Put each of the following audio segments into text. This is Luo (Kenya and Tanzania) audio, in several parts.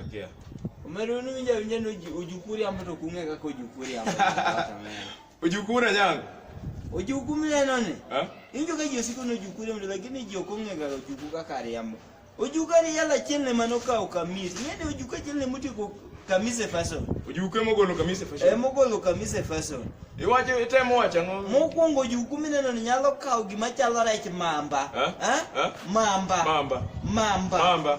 Akia. Omero unu winja winja no ji- ojukuu riambo to kung'e kaka ojukuu riambo. Kata meno. Ojukuu na nyango. Ojukuu mineno ni. Eh? Injo ka ji osiko ni ojukuu riambo lakini ji ok ong'e kaka ojukuu kaka riambo. Ojukuu ari yala achiel ne mane okawo kamis. Ing'e ni ojukuu achiel ne motieko kamis e fason. Ojukuu ema ogolo kamise E fashion. mogolo kamis e fason. Iwacho itemo wacho ang'o? Mokwongo ojukuu mineno ni nyalo kawo gima chalo rech mamba. Eh? Eh? Eh? Mamba. Mamba. Mamba. Mamba.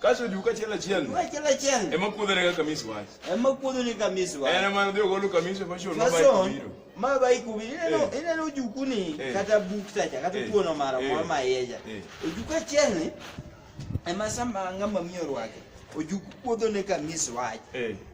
Kaso du ka chela chel. Wa chela chel. Ema kuodho ne kaka misi wach. Ema kuodho ne kaka misi wach. Ena ma dhi ogolo kamisi fa shon mabai kubiro. Ma bai kubiro. Ina no ina no juku ni kata buk sacha kata kuono mara mwa ma yeja. Ojuka chel ni ema sama ngama miyo rwake. Ojuku kuodho ne kaka misi wach.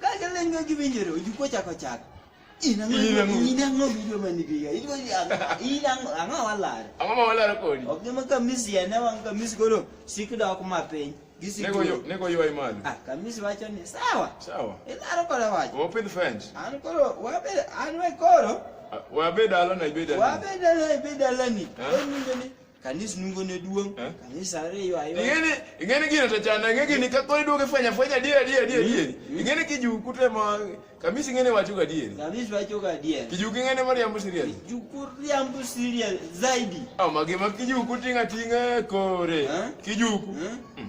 Kaka leny ma giwinjore oju kochako chak. In ang'o In ang'o? in ang'o video man biga. In go in ang'o ang'o walare. Ang'o ma walaro kodi? Ok nyama kamisi ene wang kamisi koro sik dok ma piny. Gisi. Nego yo, nego yo ai malo. Ah kamisi wacho ni sawa. Sawa. Ilaro kore wacho. Wo pidh fence. An koro wabe an we koro. Wa be dalo na ibe dalo. Wabe dalo ibe dalo ni. Oninde ni. Kanisa nungo ne duong. Eh? Kanisa ariyo ayo. Ingene ingene gino to chana ingene gini ka kori duoge fanya fanya dia dia dia dia. Mm. Ingene kiju kute ma kamisi ingene wacho ga dia. Kamisi wacho ga dia. Kiju ingene mari ambu siria. Kiju kuri ambu siria zaidi. Ah mage ma kiju kutinga tinga kore. Eh? Kiju. Eh? Hmm.